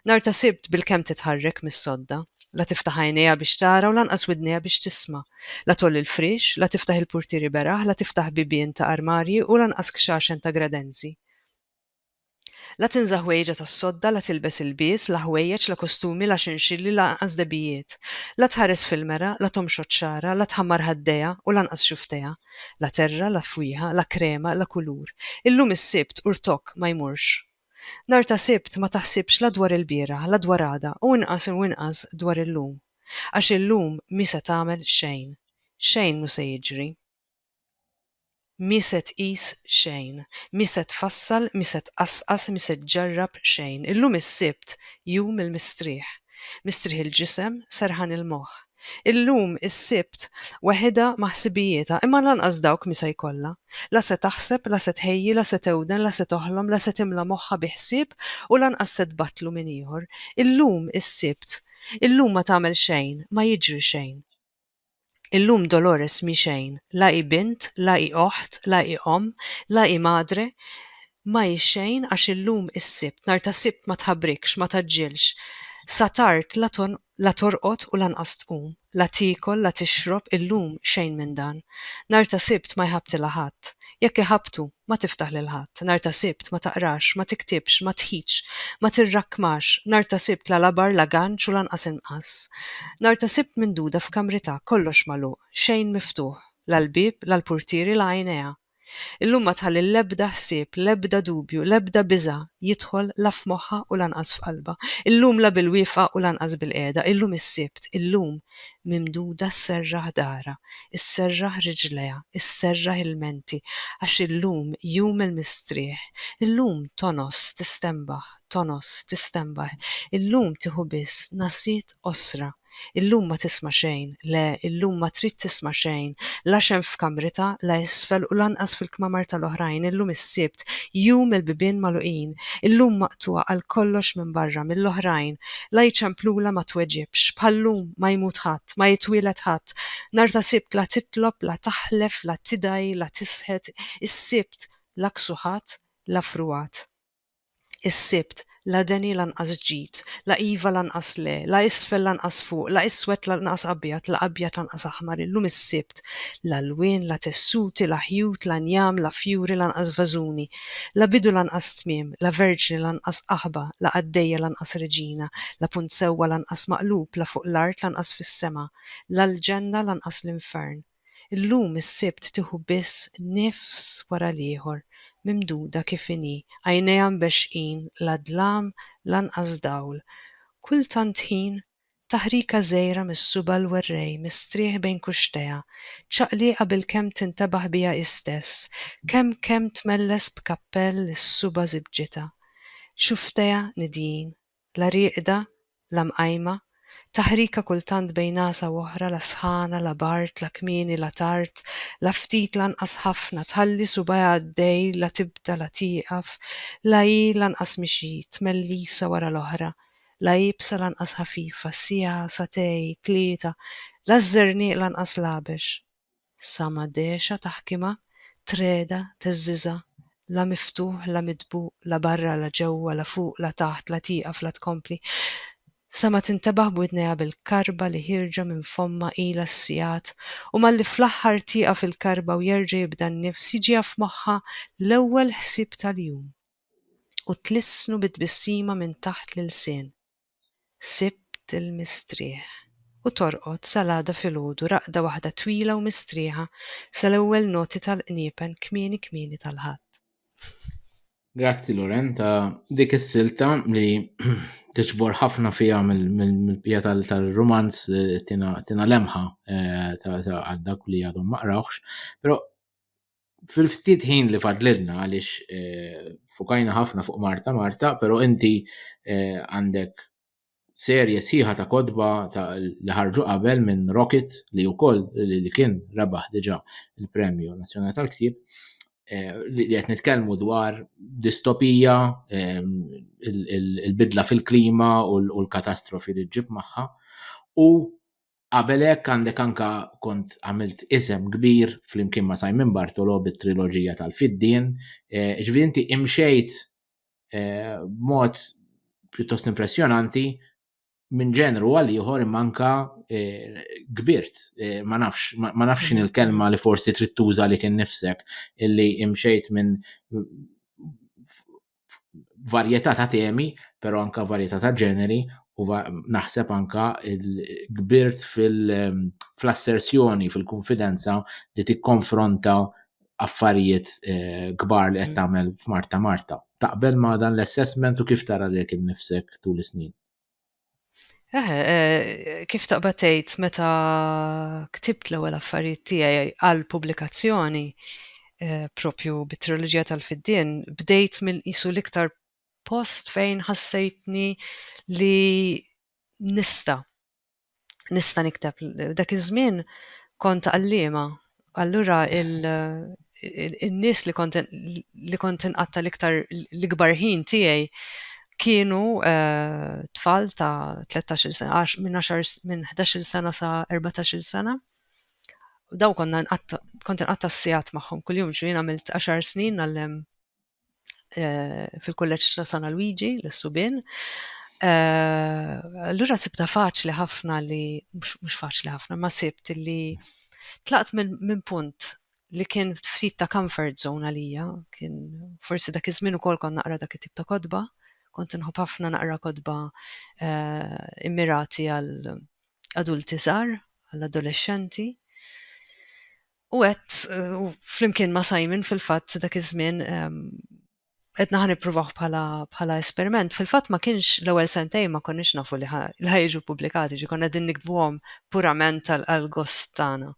Nhar ta' Sibt bilkemm titħarrek mis-sodda. La tiftaħ għajnejha biex tara u lanqas widnejha biex tisma'. La tgħolli l-friex, la tiftaħ il-purtieri beraħ, la tiftaħ bibien ta' armarji u lanqas kxaxen ta' gradenzi. La tinża' ħwejġa tas-sodda, la tilbes ilbies, la ħwejjeġ, la kostumi, la xinxilli, lanqas debijiet. La tħares fil-mera, la tomxot xagħarha, la tħammar ħaddejha, u lanqas xuftejha. La terra, la fwieħa, la krema, la kulur. Illum is-Sibt, u rtokk, ma jmurx. Nhar ta' Sibt, ma taħsibx la dwar ilbieraħ, la dwar għada, u inqas u inqas dwar illum. Għax illum mhi se tagħmel xejn. Xejn mhu se jiġri. Mhi se tqis xejn. Mhi se tfassal, mhi se tqasqas, mhi se ġġarrab xejn. Illum is-Sibt, jum il-mistrieħ. Mistrieħ il-ġisem, serħan il-moħħ. Illum is-Sibt, weħidha ma' ħsibijietha, imma lanqas dawk mhi se jkollha. La se taħseb, la se tħejji, la se tewden, la se toħlom, la se timla moħħha bi ħsieb u lanqas se tbattlu minn ieħor. Illum is-Sibt. Illum ma tagħmel xejn, ma jiġri xejn. Illum Dolores mhi xejn, la hi bint, la hi oħt, la hi omm, la hi madre, ma hi xejn għax illum is-Sibt, nhar ta' Sibt ma tħabrikx, ma tgħaġġilx. Sa tard la torqod u lanqas tqum, la tiekol, la tixrob, illum xejn minn dan. Nhar ta' Sibt ma jħabbtilha ħadd. Jekk iħabbtu, ma tiftaħ lil ħadd, nhar ta' Sibt, ma taqrax, ma tiktibx, ma tħidx, ma tirrakkmax, nhar ta' Sibt la labar la ganċ u lanqas inqas. Nhar ta' Sibt minduda f'kamritha, kollox magħluq, xejn miftuħ, la l-bieb, la l-purtieri, la għajnejha. Illum ma tħalli l-ebda ħsieb, l-ebda dubju, l-ebda biża' jidħol la f'moħħha u lanqas f'qalbha. Illum la bil-wieqfa u lanqas bil-qiegħda, illum is-Sibt, illum, mimduda sserraħ daharha, isserraħ riġlejha, isserraħ ilmenti, għax illum jum il-mistrieħ, illum tonos, tistenbaħ, tonos, tistenbaħ, illum tieħu biss nagħsiet qosra, illum ma tisma' xejn, le, illum ma trid tisma' xejn, la x'hemm f'kamritha, la isfel u lanqas fil-kmamar tal-oħrajn, illum is-Sibt, jum il-bibien magħluqin, illum maqtugħa għal kollox minn barra, mill-oħrajn, La jċemplula ma tweġibx. Bħal-lum ma jmut ħadd, ma jitwieled ħadd. Nhar ta' Sibt la titlob, la taħlef, la tidgħi, la tisħet. Is-Sibt la ksuħat, la frugħat. Is-Sibt la deni lanqas ġid, la iva lanqas le, la isfel lanqas fuq, la iswed lanqas abjad, la abjad lanqas aħmar. Illum is-Sibt la lwien, la tessuti, la ħjut, la njam, la fjuri, lanqas vażuni. La bidu lanqas tmiem, la verġni lanqas qaħba, la qaddejja lanqas reġina, la punt sewwa lanqas maqlub, la fuq l-art lanqas fis-sema, la l-ġenna lanqas l-infern. Illum is-Sibt tieħu biss nifs wara l-ieħor, mimduda kif inhi, għajnejha mbeċċqin, la dlam, lanqas dawl. Kull tant ħin. Taħrika żgħira mis-suba' l-werrej mistrieħ bejn kuxtejha, ċaqlieqa bilkemm tintebaħ biha hi stess, kemm kemm tmelles b'kappell li s-suba' żibbġitha. Xufftejha nidjin, la rieqda, la mqajma, taħrika kultant bejn għasa u oħra la sħana, la bard, la kmieni, la tard, la ftit lanqas ħafna, tħalli subgħajha għaddej la tibda la tieqaf, la hi lanqas mixi, tmellisa wara l-oħra, L-għajb sa l-anqas ħafifa, siegħa, sagħtej, tlieta, la ż-żerniq lanqas l-għabex. Sa ma dexa taħkimha, treda, teżżiża, la miftuħ, la midbuq, la barra, la ġewwa, la fuq, la taħt, la tieqaf, la tkompli, sa ma tintebaħ b'widnejha bil-karba li ħierġa minn fommha ilha s-sigħat, u malli fl-aħħar tieqaf il-karba u jerġa' jibda n-nifs jiġiha f'moħħha l-ewwel ħsieb tal-jum. u tlissnu bi tbissima minn taħt l-ilsien. Sibt il-mistrieħ. U torqod sal-għada filgħodu raqda waħda twila u mistrieħa sal-ewwel noti tal-qniepen kmieni kmieni tal-Ħadd. Grazzi Loren ta' dik is-silta li tiġbor ħafna fiha mill-pija tal-rumanz eh, tina lemħa eh, ta' għal dak li għadhom ma qrawx, però fil-ftit ħin li fadlilna għaliex eh, fukajna ħafna fuq Marta Marta, pero inti eh, għandek serje sħiħa ta' kodba ta' li ħarġu qabel minn Rocket li wkoll li kien rebaħ diġà il-Premju Nazzjonali tal-Ktieb eh, li qed nitkellmu dwar distopija il-bidla fil-klima u l-katastrofi li ġib magħha u Qabel hekk għandek anke kont għamilt isem kbir flimkien ma' Simon Bartolo bit-triloġija tal-Fiddien, eh, ġifieri inti imxejt eh, b'mod pjuttost impressjonanti minn ġenru għal ieħor imma anka eh, kbirt, eh, ma nafx, ma ma nafx x'inhi l-kelma li forsi trid tuża li kien nifsek illi imxejt minn varjetà ta' temi, però anka varjetà ta' ġeneri u naħseb anka il-kbirt fil-assersjoni, fil-konfidenza li tikkonfronta affarijiet eh, kbar li qed mm. tagħmel f'Marta Marta. Taqbel ma' dan l-assessment u kif tara lek innifsek tul is-snin? Eħe, eh, kif taqbad tgħid meta ktibt l-ewwel affarijiet tiegħi għal pubblikazzjoni eh, propju bit-triloġija tal-fiddien, bdejt minn qisu l-iktar post fejn ħassejtni li nista nista' nikteb. Dak iż-żmien kont għalliema, allura il-nies li kont li kont inqatta l-iktar l-ikbar ħin tiegħi kienu eh, tfal ta' 13 sena, minn 10 minn 11 sena sa 14 sena. Daw konna kont inqatta s-sigħat magħhom kuljum, ġri għamilt 10 snin għallem eh, fil-kulleġġ ta' San Luigi l-Subin. Eh, allura sibta faċli ħafna li mhux faċli ħafna ma sibt li tlaqt minn punt li kien ftit ta' comfort zone għalija, kien forsi dak iż-żmien ukoll kont naqra dak it-tip ta' kodba, kont nħobb ħafna naqra kodba eh, immirati għal adulti żgħar, għal adolescenti. U għedt u flimkien ma' Simon fil-fatt dak iż-żmien qed naħa nippruvaw bħala bħala esperiment. Fil-fatt ma kienx l-ewwel sentej ma konniex nafu li ħa jiġu pubblikati, ġi konna din nikdbuhom purament għal gost tagħna.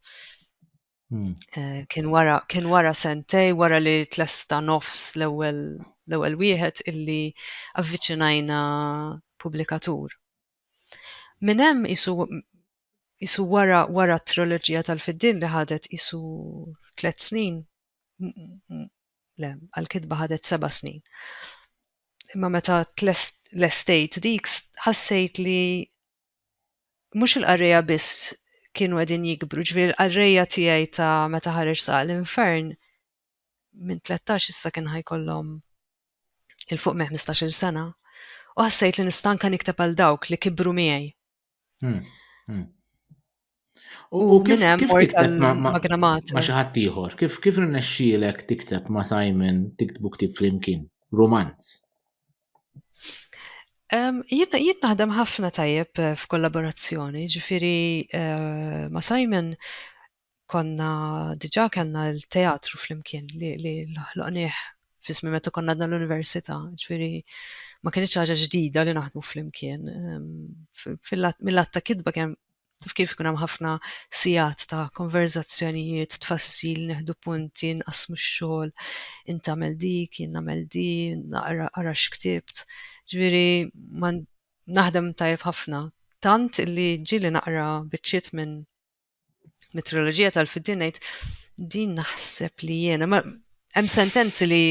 Hmm. Eh, kien wara kien wara sentej wara li tlesta nofs l-ewwel l-ewwel wieħed illi avviċinajna pubblikatur. Min hemm isu isu wara wara t-triloġija tal-fiddin li ħadet isu tliet snin, le, għal-kitba ħadet seba' snin. Imma meta l-estate dik ħassejt li mhux il-qarrejja biss kienu qegħdin jikbru, ġifieri l-qarrejja tiegħi ta' meta ħareġ sa' l-infern minn 13 issa kien ħajkollhom il fuq me 15-il sena u ħassejt li nista' anke nikteb għal dawk li kibru miegħi. Hmm, hmm. U kif hemm mort għall-magnamat. Ma xi ħadd ieħor, kif kif rnexxielek tikteb ma' Simon tiktbu ktib flimkien, romanz? Jien jien naħdem ħafna tajjeb eh, f'kollaborazzjoni, ġifieri eh, ma' Simon konna diġà kellna l-teatru flimkien li, li ħloqnieh fismi meta konna dan l-università, ġifieri ma kienx ħaġa ġdida li naħdmu flimkien. Mill-att ta' kitba kemm taf kif kun hemm ħafna sigħat ta' konverzazzjonijiet, tfassil, neħdu punti, nqasmu x-xogħol, int tagħmel dik, jien nagħmel di, naqra ara x'ktibt. Ġifieri naħdem tajjeb ħafna. Tant li ġieli naqra biċċiet minn mit-triloġija tal-fiddi ngħid din naħseb li jiena ma hemm sentenzi li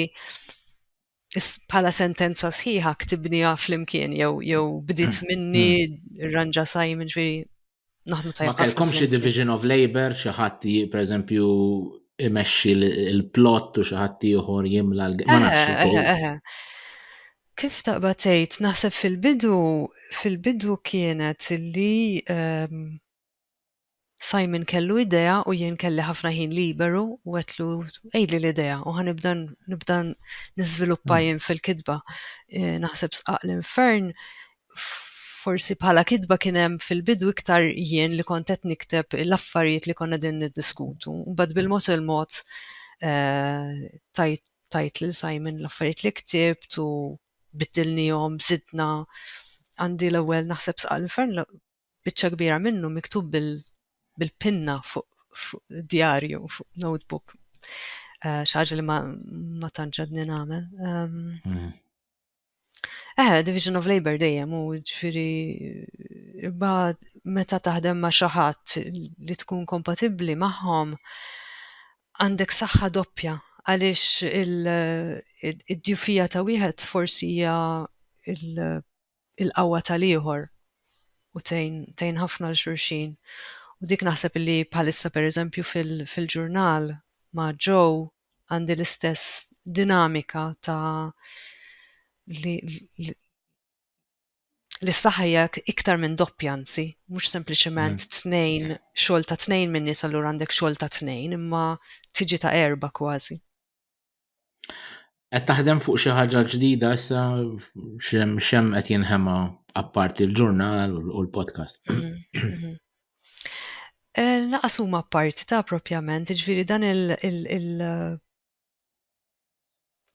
bħala sentenza sħiħa ktibniha flimkien jew jew bdiet hmm. minni hmm. ranġa Simon fi naħdmu tajjeb. Ma kellkom xi division of labor xi ħadd pereżempju imexxi l-plot u xi ħadd ieħor jimla l Kif taqba tgħid naħseb fil-bidu fil-bidu kienet li ehm, Simon kellu idea u jien kelli ħafna ħin liberu u għetlu għidli l-idea u ħan nibda nibda niżviluppa hmm. jien fil-kitba. Eh, naħseb sqaq l-infern forsi bħala kitba kien hemm fil-bidu iktar jien li kont qed nikteb l-affarijiet li konna din niddiskutu. Bad bil-mod il-mod eh, tajt tajt lil Simon l-affarijiet li ktibt u biddilnihom, zidna għandi l-ewwel naħseb sqaq l-infern biċċa kbira minnu miktub bil bil-pinna fuq fu djarju, fuq notebook. Uh, xaġa li ma, ma tanġadni namel. Um, mm. Eh, Division of Labor dejjem u ġifiri ba meta taħdem ma' xaħat li tkun kompatibli magħhom għandek saħħa doppja għaliex id-djufija ta' wieħed forsi hija il-qawwa tal-ieħor u tgħin tgħin ħafna 'l xulxin. U dik naħseb li bħalissa pereżempju fil fil-ġurnal ma' Joe għandi l-istess dinamika ta' li li li s-saħħa hija iktar minn doppja anzi, mhux sempliċement mm. tnejn xogħol ta' tnejn minn nies allura għandek xogħol ta' tnejn imma tiġi ta' erba' kważi. Qed taħdem fuq xi ħaġa ġdida issa xem xem qed jinħema apparti l-ġurnal u l-podcast. Mhm, mhm. Eh, laqas huma apparti ta' propjament, ġifieri dan il- eh,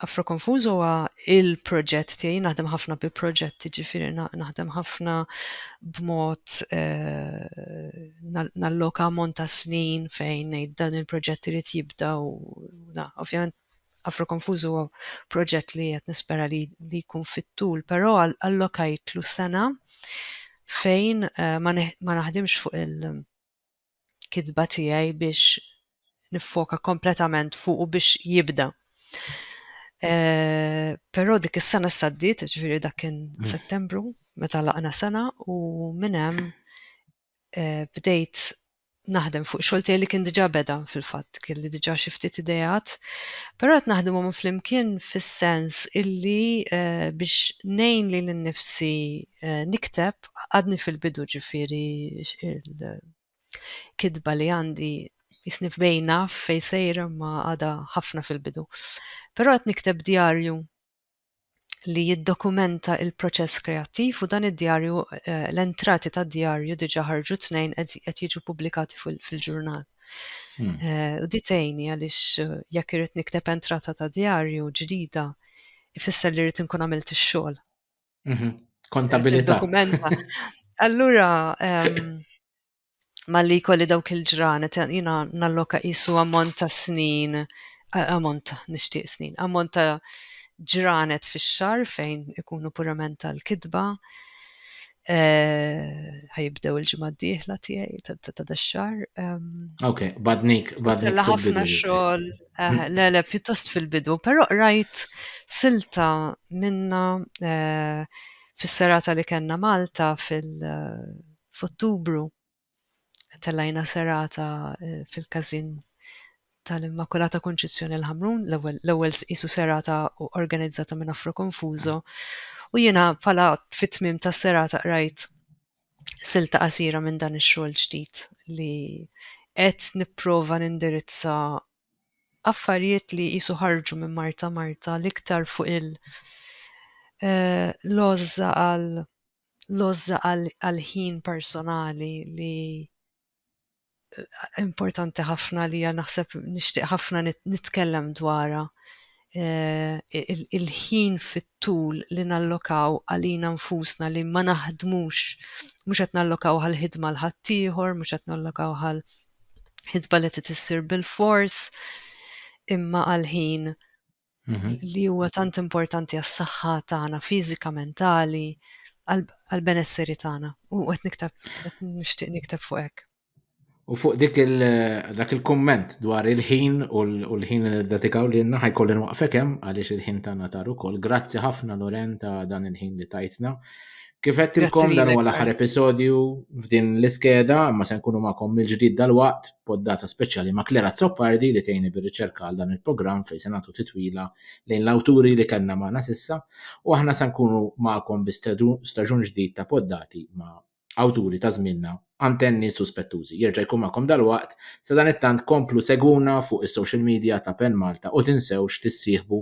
Afro Confuso huwa il-proġett tiegħi naħdem ħafna bi proġetti ġifieri naħdem ħafna b'mod eh, nalloka ammont ta' snin fejn ngħid dan il-proġett irid jibda u Luna. Ovvjament Afro Konfuż huwa proġett li qed nispera li li jkun fit-tul, però allokajtlu sena fejn eh, ma, ma naħdimx fuq il-kitba tiegħi biex niffoka kompletament fuq u biex jibda. Eh, però dik is-sena s-saddit, ġifieri dak kien mm. Settembru, meta laqna sena u minn hemm bdejt naħdem fuq xogħol tiegħi li kien diġà beda fil-fatt, kien li diġà xi ftit idejat, però qed naħdimhom flimkien fis-sens illi eh, biex ngħin lil innifsi eh, nikteb għadni fil-bidu ġifieri il-kitba li għandi jisni f'bejna fej sejra ma għada ħafna fil-bidu. Però qed nikteb djarju li jiddokumenta il-proċess kreattiv u dan id-djarju eh, l-entrati ta' djarju diġa ħarġu tnejn qed jiġu pubblikati fil-ġurnal. Hmm. Eh, u di tgħinni għaliex eh, jekk irid nikteb entrata ta' djarju ġdida ifisser li rrid inkun għamilt ix-xogħol. Mhm. Kontabilità. Dokumenta. Allura ehm, malli jkolli dawk il-ġranet, jina nalloka jisu ammont ta' snin, ammont ta' nishtiq snin, ammont ta' ġranet fi xar fejn ikunu purament tal-kidba, e, ħajibdew il-ġimgħa d-dieħla tiegħi ta' dax-xar. Ok, badnik, badnik. La ħafna xogħol, eh, le le pjuttost fil-bidu, però rajt silta minna eh, fis-serata li kellna Malta fil- f'Ottubru tellajna serata eh, fil-każin tal-Immakulata Konċizzjoni l-Ħamrun, l-ewwel qisu serata organizzata minn Afro Confuso, u jiena pala fit-tmim tas-serata qrajt silta qasira minn dan ix-xogħol ġdid li qed nipprova nindirizza affarijiet li jisu ħarġu minn Marta Marta l-iktar fuq il- eh, lozza għal l-għożża għall-ħin personali li importanti ħafna li naħseb nixtieq ħafna nitkellem dwarha. Il-ħin fit-tul li nallokaw għalina nfusna li ma naħdmux, mhux qed nallokaw għall-ħidma għal ħaddieħor, mhux qed nallokaw għal ħidba li trid issir bil-fors, imma għal ħin mhm. li huwa tant importanti għas-saħħa tagħna fiżika, mentali, għal-benesseri tagħna. U qed niktab, qed nixtieq niktab fuq hekk. U fuq dik il dak il-komment dwar il-ħin u l-ħin li dedikaw li jenna ħajkollin waqfek hemm għaliex il-ħin tagħna tar ukoll. Grazzi ħafna Loren ta' dan il-ħin li tajtna. Kif għedtilkom dan huwa l-aħħar episodju f'din l-iskeda, ma se nkunu magħkom mill-ġdid dal-waqt poddata speċjali ma' Klera Zoppardi li tgħini bir-riċerka għal dan il-programm fejn se nagħtu titwila lejn l-awturi li kellna magħna sissa u aħna se nkunu magħkom bi staġun ġdid ta' poddati ma' awturi ta' żminna antenni suspettużi. Jerġa' jkun magħkom dal-waqt sa dan it-tant komplu seguna fuq is-social media ta' Pen Malta u tinsewx tissieħbu